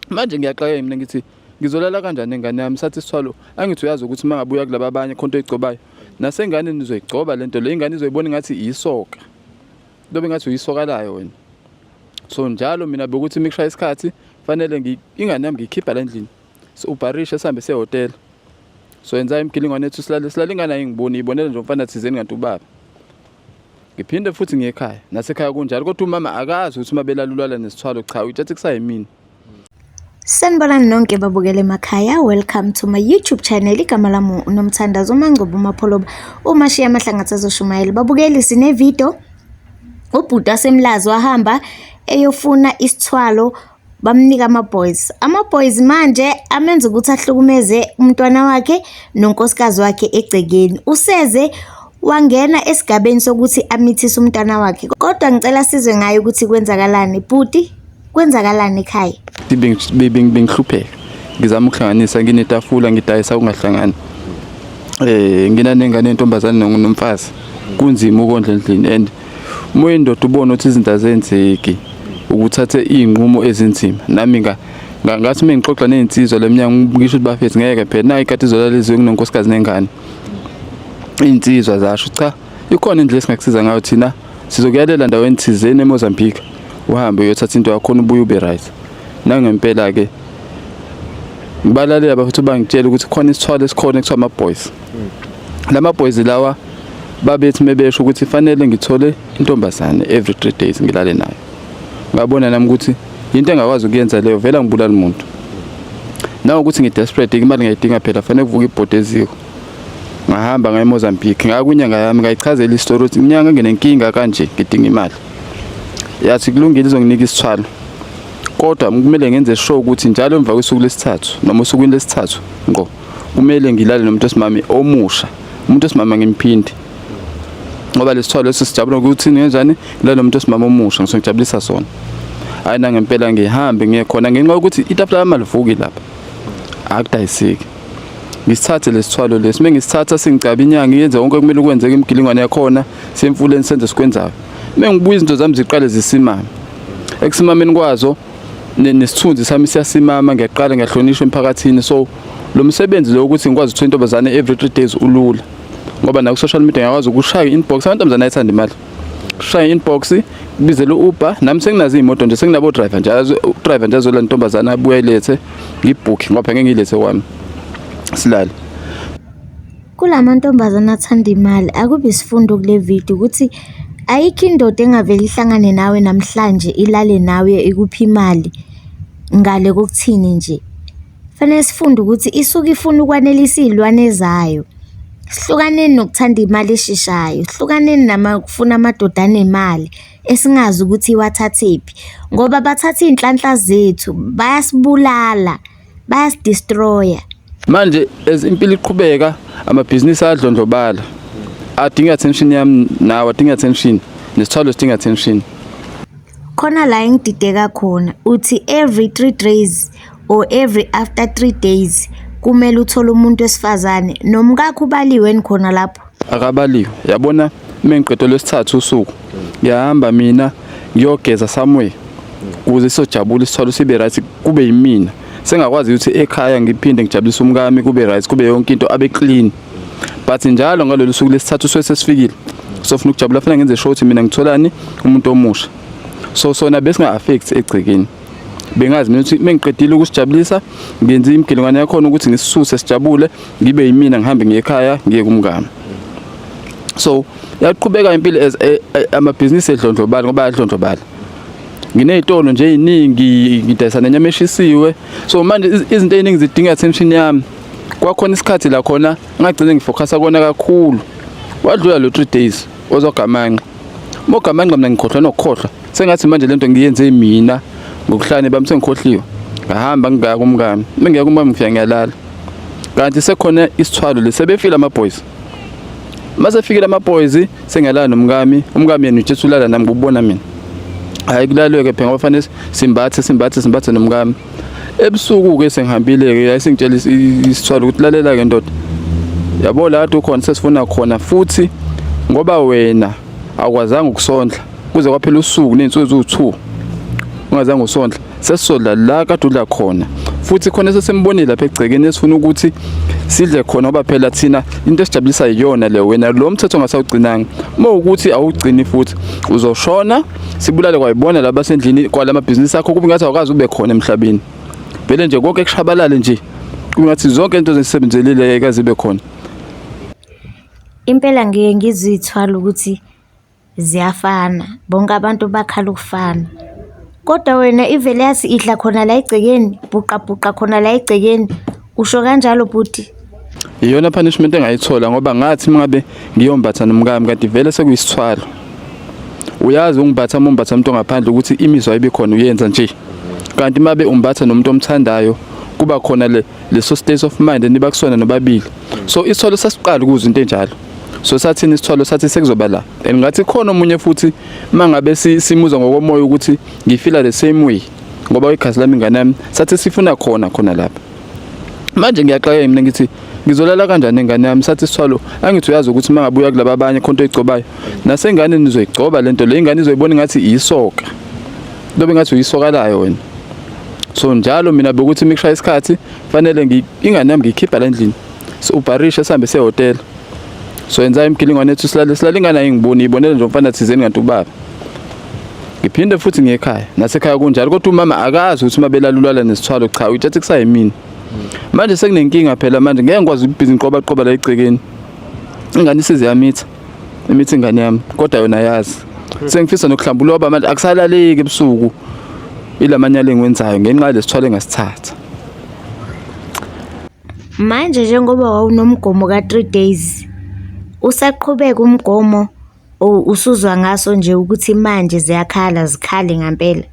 manje ngiyaxakeka mina ngithi ngizolala kanjani ingane yami sathi sithwalo angithi uyazi ukuthi uma ngabuya kulaba abanye khonto igcobayo nasengane nizoyigcoba le nto le ingane izoyibona ingathi iyisoka lobe ngathi uyisoka layo wena so njalo mina bekuthi mikushaya isikhathi fanele ingane yami ngiyikhipha la endlini so ubharishe sihambe sehhotela so yenza imgilingwane ethu silale silale ingane ayingiboni iyibonela nje umfana thizeni kanti ubaba ngiphinde futhi ngekhaya nasekhaya kunjalo kodwa umama akazi ukuthi uma belalulala nesithwalo cha uyithathe kusayimini Sanibonani nonke babukele emakhaya welcome to my YouTube channel igama lami uNomthandazo uMangcobo uMapholoba umashiya amahlangatha azoshumayela babukeli sine video ubhuti wasemlazi wahamba eyofuna isithwalo bamnika ama-boys ama-boys manje amenza ukuthi ahlukumeze umntwana wakhe nonkosikazi wakhe egcekeni useze wangena esigabeni sokuthi amithise umntwana wakhe kodwa ngicela sizwe ngayo ukuthi kwenzakalani bhuti kwenzakalani ekhaya bengihlupheka ngizama ukuhlanganisa nginetafula ngidayisa ungahlangani um eh, nginanengane yentombazane nomfazi kunzima ukondla endlini and uma uyindoda ubona ukuthi izinto azenzeki ukuthathe iy'nqumo ezinzima nami ngathi uma ngixoxa ney'nsizwa le mnyango ngisho ukuthi bafethu ngeke phela nayo ikhathi izolaliziwe kunonkosikazi nengane iy'nsizwa zasho cha ikhona indlela esingakusiza ngayo thina sizokuyalela ndaweni thizeni emozambique uhambe uyothatha into yakhona ubuye ube right nangempela-ke ngibalalela bafethu bangitshela ukuthi khona isithwalo esikhona kuthiwa ama-boys lama boys lawa babethi mebesho ukuthi fanele ngithole intombazane every 3 days ngilale nayo ngabona nami ukuthi into engakwazi ukuyenza leyo vela ngibulala umuntu nawo ukuthi ngidesperate imali ngiyidinga phela fanele kuvuka ibhodi eziko ngahamba ngaye Mozambique ngakwinyanga yami ngayichazela istory ukuthi inyanga nginenkinga kanje ngidinga imali yathi kulungile izonginika isithwalo kodwa kumele ngenze sure ukuthi njalo emva kwesuku lesithathu noma usukwini lesithathu ngqo kumele ngilale nomuntu osimame omusha umuntu osimama ngimphindi ngoba lesithwalo lesi sijabula ukuthi ngenzani ngilale nomuntu osimama omusha ngisongijabulisa sona hayi nangempela ngihambe ngiye khona ngenxa yokuthi itafula lami alivuki lapha akudayiseki ngisithathe lesithwalo lesi uma ngisithatha singicaba inyanga yenze konke okumele kwenzeke imigilingwane yakhona semfuleni senze sikwenzayo uma ngibuya izinto zami ziqale zisimame ekusimameni kwazo nesithunzi sami siyasimama ngiyaqala ngiyahlonishwa emphakathini so lo msebenzi lo ukuthi ngikwazi ukuthola intombazane every three days ulula ngoba naku social media ngiyakwazi ukushaya inbox abantu mzana ayithanda imali shaya inbox bizele uber nami senginazo imoto nje senginabo driver nje driver nje azola ntombazana abuye lethe ngibooke ngoba ngeke ngilethe kwami silale Kula mantombazane athanda imali akube isifundo kule video ukuthi ayikho indoda engavele ihlangane nawe namhlanje ilale nawe ikuphi imali ngale kokuthini nje. Fanele sifunde ukuthi isuke ifuna ukwanelisa iy'lwane zayo. Sihlukaneni nokuthanda imali esheshayo, sihlukaneni namafuna amadoda anemali esingazi ukuthi iwathathephi ngoba bathatha iy'nhlanhla zethu, bayasibulala. bayasdestroya manje as impilo iqhubeka amabhizinisi ayadlondlobala adinga attention yami nawe adinga attention nesithwalo sidinga attention khona la engidideka khona uthi every 3 days or every after 3 days kumele uthole umuntu wesifazane nomkakho ubaliwe khona lapho akabaliwe yabona mengiqedo lwesithathu usuku ngiyahamba mina ngiyogeza somewhere kuze sojabula isithwalo sibe right kube yimina sengakwazi ukuthi ekhaya ngiphinde ngijabulise umkami kube right kube yonke into abe clean but njalo ngalolu suku lesithathu suke sesifikile sofuna ukujabula funa ngenze sure ukuthi mina ngitholani umuntu omusha so sona besinga affect egcekeni bengazi mina ukuthi mengiqedile ukusijabulisa ngenze imgelengwane yakhona ukuthi ngisisuse sijabule ngibe yimina ngihambe ngiye ekhaya ngiye kumngami so yaqhubeka impilo as eh, eh, amabhizinisi edlondlobala ngoba yadlondlobala nginezitolo nje eziningi ngidayisa nenyama eshisiwe so manje izinto eziningi zidinga attention yami kwakhona isikhathi la khona ngagcine ngifocusa kona kakhulu wadlula lo 3 days ozogamanqa mogamanqa mina ngikhohlwa nokukhohlwa sengathi manje lento ngiyenze mina ngokuhlane bami sengikhohliwe ngahamba ngingaya kumkami mengiya kumkami ngifika ngiyalala kanti sekhona isithwalo lesebefile ama boys mase fikile ama boys sengiyalala nomkami umkami yena ujesu ulala nami kubona mina hayi kulalwe ke phela ngofanele simbathe simbathe simbathe nomkami ebusuku ke sengihambile ke yayisingitshela isithwalo ukuthi lalela ke ndoda yabo la ukhona sesifuna khona futhi ngoba wena akwazanga ukusondla kuze kwaphela usuku ney'nsuku eziwu-two ungazange usondla sesisodla la kade udla khona futhi khona sesembonile lapha egcekeni esifuna ukuthi sidle khona ngoba phela thina into esijabulisa yiyona le wena lo mthetho ongasawugcinanga uma ukuthi awugcini futhi uzoshona sibulale kwayibona laba sendlini kwala mabhizinisi akho kube ngathi awukazi ube khona emhlabeni vele nje konke kushabalale nje kube ngathi zonke into ezisebenzelile ekazibe khona impela ngiye ngizithwala ukuthi Ziyafana, bonke abantu bakhala ukufana. Kodwa wena ivele yathi idla khona la egcekeni, bhuqabhuqa khona la egcekeni. Usho kanjalo bhuti? Iyona punishment engayithola ngoba ngathi uma ngabe ngiyombatha nomkami kanti vele sekuyisithwalo. Uyazi ungibatha uma umbatha umuntu ongaphandle ukuthi imizwa ibe khona uyenza nje. Kanti uma be umbatha nomuntu omthandayo kuba khona le leso state of mind eniba kusona nobabili. So isithwalo sasiqala ukuzwa into enjalo. so sathini isithwalo sathi sekuzoba la and ngathi khona omunye futhi mangabe simuzwa ngokomoya ukuthi ngifila the same way ngoba igazi lami ingane yami sathi sifuna khona khona lapha manje ngiyaxakeka mina ngithi ngizolala kanjani ingane yami sathi sithwalo angithi uyazi ukuthi mangabuya kulaba abanye khonto igcobayo nasengane nizoyigcoba lento le ingane izoyibona ngathi iyisoka lobe ngathi uyisoka layo wena so njalo mina bekuthi mikushaya isikhathi fanele ingane yami ngiyikhipha la endlini so ubharishe sihambe sehotela so yenza imgilingwane ethu silale silale ingane ayingiboni ibonele nje umfana thizeni kanti ubaba ngiphinde futhi ngekhaya nasekhaya kunjalo kodwa umama akazi ukuthi uma belalulala nesithwalo cha uyithathe kusayimini manje sekunenkinga phela manje ngeke ngikwazi ukubhizi ngiqoba qoba la egcekeni ingane isize yamitha imithi ingane yami kodwa yona yazi sengifisa nokuhlamba uloba manje akusalaleki ebusuku ilamanyala engiwenzayo ngenxa yalesithwalo engasithatha Manje njengoba wawunomgomo ka-three days, usaqhubeka umgomo or usuzwa ngaso nje ukuthi manje ziyakhala zikhale ngampela?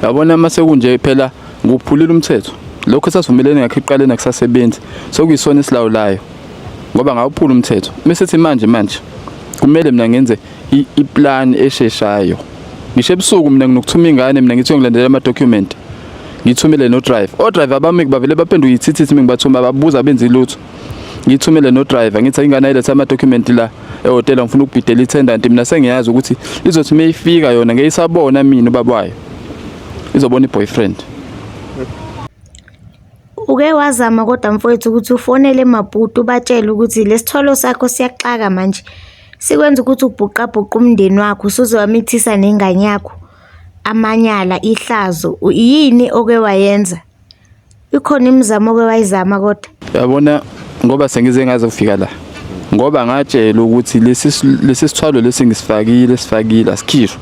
Yabona uma sekunje phela nguphulile umthetho. Lokho esasivumelene ngakho ekuqaleni akusasebenzi. Sokuyisona esilawulayo. Ngoba ngawuphula umthetho. Bese sithi manje manje kumele mina ngenze iplan esheshayo. Ngisho ebusuku mina nginokuthuma ingane mina ngithi ngilandela ama document. ngithumele no driver o driver bami kubavele baphenduka ithithithi mingibathuma babuza benzi lutho ngithumele no driver ngithi ingane ilethe ama document la ehotela ngifuna ukubhidela itendant mina sengiyazi ukuthi izothi mayifika yona ngeyisabona mina ubaba wayo izobona iboyfriend Uke wazama kodwa mfowethu ukuthi ufonele Maputo ubatshele ukuthi lesithwalo sakho siyaxaka manje. Sikwenza ukuthi ubhuqabhuqa umndeni wakho, usuze wamithisa nengane yakho. Amanyala, ihlazo, yini oke wayenza? Ikhona imizamo oke wayizama kodwa? Yabona ngoba sengize ngaze kufika la. Ngoba ngatshela ukuthi lesi lesi sithwalo lesi ngisifakile sifakile asikhishwe.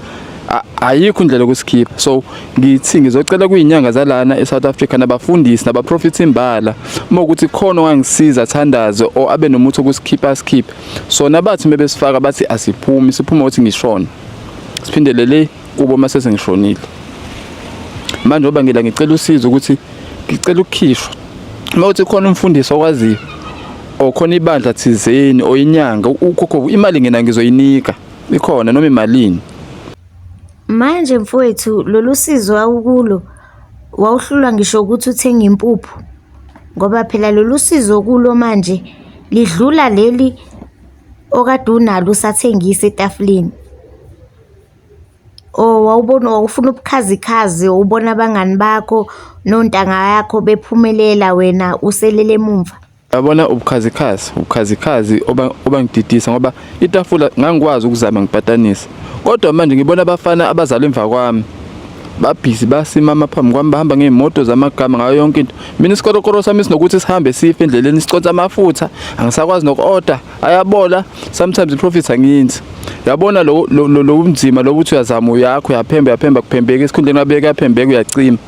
Ayikho indlela yokusikhipha. So ngithi ngizocela kuyinyanga zalana eSouth Africa nabafundisi nabaprofits imbala uma ukuthi khona ongangisiza thandaze o abe nomuthi okusikhipha asikhiphe. Sona bathi mebesifaka bathi asiphumi siphuma ukuthi ngishona. siphindele le kubo uma sesengishonile manje ngoba ngila ngicela usizo ukuthi ngicela ukukhishwa uma uthi khona umfundisi okwaziyo okhona ibandla thizeni oyinyanga ukhokho imali ngena ngizoyinika ikhona noma imalini manje mfowethu lolu sizo wawukulo wawuhlulwa ngisho ukuthi uthenge impuphu ngoba phela lolu sizo kulo manje lidlula leli okade unalo usathengisa etafuleni or oh, wawubona wawufuna ubukhazikhazi wawubona abangani bakho nontanga yakho bephumelela wena uselele emumva yabona ubukhazikhazi ubukhazikhazi obangididisa ngoba itafula ngangikwazi ukuzama ngipatanisa kodwa manje ngibona abafana abazalwa emva kwami babhizi basimama phambi kwami bahamba ngey'moto zamagama ngayo yonke into mina isikorokoro sami sinokuthi sihambe sife endleleni siconsa amafutha angisakwazi noku-order ayabola sometimes i-profit angiyenzi yabona lo lo lo lo umzima lo ukuthi uyazama uyakho uyaphemba uyaphemba kuphembeka esikhundleni abeke yaphembeka uyacima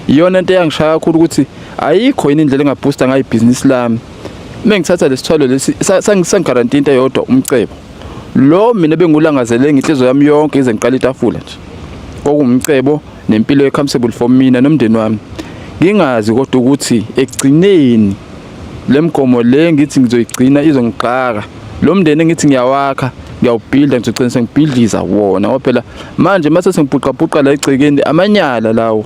iyona into eyangishaya kakhulu ukuthi ayikho yini indlela engaboosta ngayo ibhizinisi lami uma ngithatha lesithwalo lesi sangigaranti into eyodwa umcebo lo mina bengulangazele ngenhliziyo yami yonke ize ngiqala itafula nje kwakuwumcebo nempilo e-comfortable for mina nomndeni wami ngingazi kodwa ukuthi ekugcineni le mgomo le ngithi ngizoyigcina izongixaka lo mndeni engithi ngiyawakha ngiyawubhilda ngizogcina sengibhidliza wona ngoba phela manje mase sengibhuqabhuqa la egcekeni amanyala lawo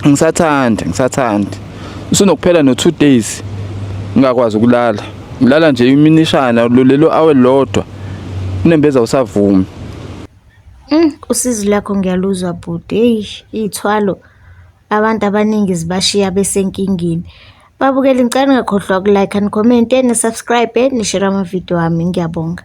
ngisathanda ngisathanda usunokuphela no 2 days ngingakwazi ukulala ngilala nje iminishana lolelo awe lodwa unembeza usavumi Usizi lwakho ngiyaluzwa bhuti, hheyi iy'thwalo abantu abaningi zibashiya besenkingeni. Babukeli ngicela ningakhohlwa uku-like-a, nikhomente, ni-subscribe-e, nishere amavidiyo ami, ngiyabonga.